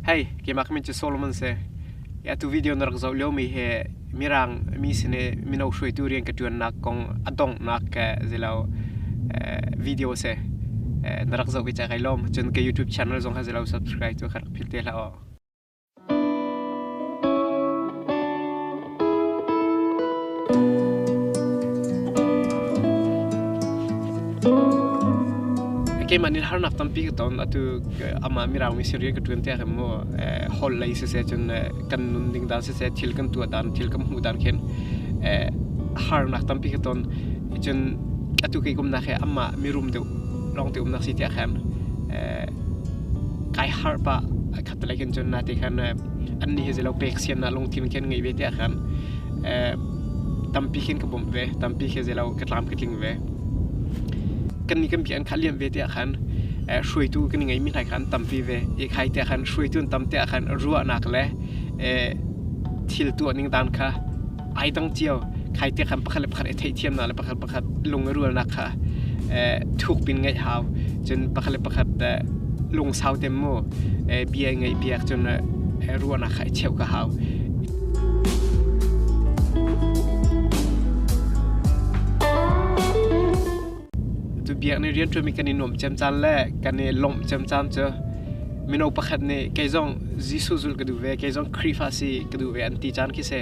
Hei, keimah min cu Solomon si. I atu video na rak zoh liomi hi Mirang mi sin i mino hruaitu rian ka ṭuannak kong a donghnak ke zei lo video a si. Na rak zoh hi cak ai lawm. Cun ka YouTube channel zong kha zei lo subscribe cu ka rak phil te hlah u. keimah nin harnak tampi ka ton atu amah miraung mi serial ka tuan te kha mo hol lei se se chun kan nun ding dan se se thil kan tua dan thil kan hmu dan khen harnak tampi ka ton chun atu ke kum na khe amah mirum deu long te um nak si te khan kai har pa palai kan chon na te khan an ni he zelo pek sian na lungthin khan ngei ve te khan tampi khin ka bom ve tampi khe zelo ka tlam ka tling ve kan ni kan bi an kha liam ve te khan hruaitu kan ngei mi hlai khan tampi ve e khai te khan hruaitu tam te khan ruwa nak le thil tu ning dan kha ai dang chiao khai te khan pakhat le pakhat e thei thiam na le pakhat pakhat lung i rualnak kha eh, thukpin ngeih hau cun pakhat le pakhat eh, lungsau tem mu eh, bia ngeih piak cun eh, ruahnak kha i cheuh ka hau tu biak ni rian ṭumi kan i nuam cem caan le kan i lawmh cem caan cu mino pakhat nih kei zong Jesuh zul ka duh ve kei zong Khrihfa si ka duh ve an ti caan khi si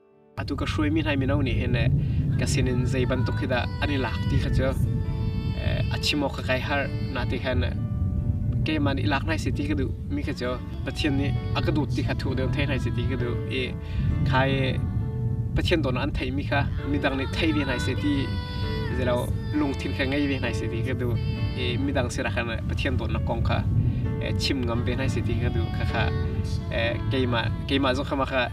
atu ka hruai mi hlai mino nih hin eh, ka sin in zei bantuk hi dah an i lak ti kha cu a chim awk ka kai har na te khan keiman i lak nai si ti ka duh mi kha cu pathian nih a ka dut ti kha thu deu thei nai si ti ka duh i khai pathian don an thei mi kha midang nih thei ve nai se ti zelo lungthin kha ngei ve nai se ti ka duh i midang sira khan pathian don na kong kha chim ngam ve nai se ti ka duh kha kha keima keima zong khama kha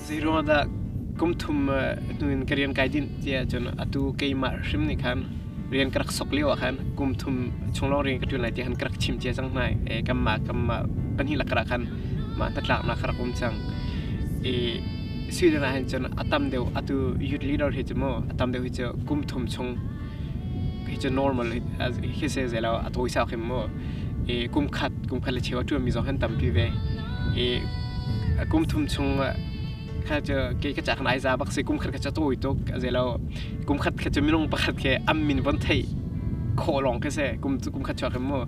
Zeiruang dah kum thum hnu in ka rian kai dinh ti ahcun atu keimah hrim nih khan rian ka rak sok lio ah khan kum thum chung lawng rian ka ṭuan lai ti khan ka rak chim cia cang hna i kanmah kanmah pahnih lakah ah khan mah hnatlaknak ka rak um cang. I Sweden ah hin cun a tam deuh atu youth leader hi cu maw a tam deuh hi cu kum thum chung Hi cu normal hi se zei lo a tawisa hrim mu. I kum khat kum khat le cheu a ṭuanmi zong kan tampi ve. I a kum thum chung kha cu ke ka cak nai za bak si kum khat kha cu tawi tuk a zei lo kum khat khat cu minung pakhat khi am min von theih khawh lawng khi si kum kum khat chuak hrim mu.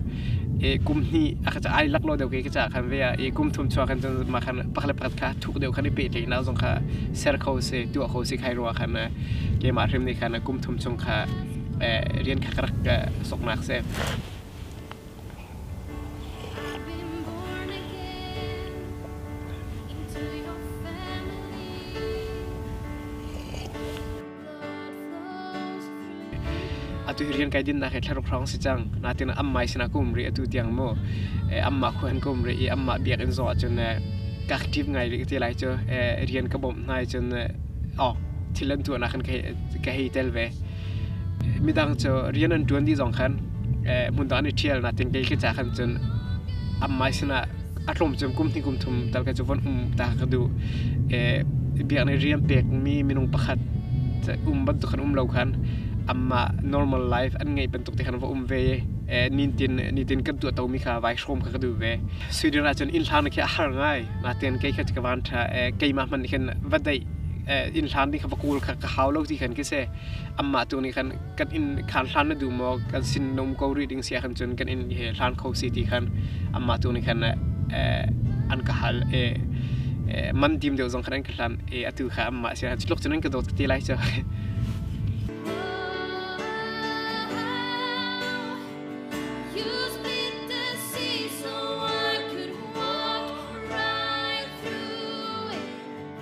I kum hnih a ka ca ai lak lo deuh ke ka cak han ve a i kum thum chuak khan cun mah khan pakhat le pakhat kha thuk deuh khan i pehtlaihnak zong kha ser kho si tuah kho si khai ruwa khan ke mah hrim ni khan kum thum chung kha rian kha rak soknak se atu hi rian kai din nak hi thlaruk hrawng si cang na tin am mai sina kum ri atu tiang mu e amma khu han kum ri i amma biak in zo chun e ka active ngai ri ti lai chu e rian ka bom nai chun o thilan tu na kan kai ka hei tel ve midang chu rian an tuan di zong khan mun da ni thial na tin kai khi cha khan chun am mai sina a tlawm cu kum hnih kum thum tal ka cu von um ta ka duh. biak nih rian pekmi minung pakhat um bantuk khan um lo khan amah normal life an ngeih bantuk te khan va um ve i nitin nitin kan tuahtomi kha vai hrawm kha ka duh ve. Sweden ahcun innhlang nih khin a har ngai. Natin kei kha ka van ṭha keimah hmanh nih khin va daih innhlang ding kha va kawl kha ka hau lo ti khan khi si. Amah tu nih khan kan in khan hlan na du maw kan sin nom ko ri ding sia khan cun kan in he hlan kho si ti khan amma tu ni khan an ka hal e man dim deuh zong khan an ka hlan e atu kha amma sia khan chilok cun ka dot ti lai cha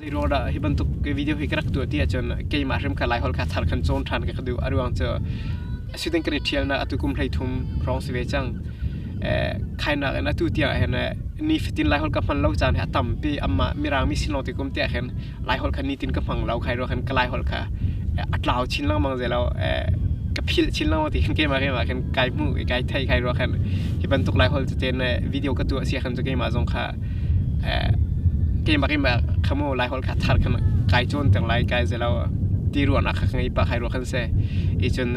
Tirawl ah hi bantuk video hi ka rak tuah ti ahcun keimah hrim kha Laihol kha thar kan cawn ṭhan ka ka duh a ruang cu shooting kan i ṭhial na atu kum hlei thum hrawng si ve cang khainak in atu tiang ahhin nifatin Laihol ka hman lo caan hi a tampi amah mirangmi sin lawng ti kum te ahhin Laihol kha nitin ka hmang lo khai ruang khan ka Laihol kha a tlau chin lengmang zei lo ka philh chin lengmang ti khan keimah keimah khan kai hmu kai thei khai ruang khan hi bantuk Laihol cu ten video ka tuah si khan cu keimah zong kha keimah keimah kha maw laiholh kha thar khan kai cawn cang lai kai zei lo ti ruahnak kha ka ngei pah kai ruah khan a si i cun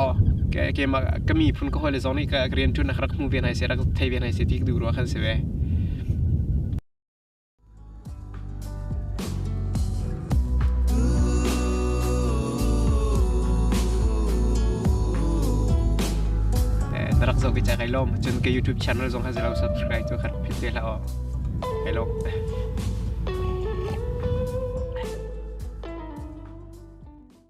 aw keimah ka miphun ka hawile zong nih ka rianṭuan na ka rak hmu ve hna hi seh rak thei ve hna hi seh ti ka duh rua khan a si ve. na rak zoh vicha kai lom cun ke youtube channel zong ha zelo subscribe cu khat phit te la o kai lom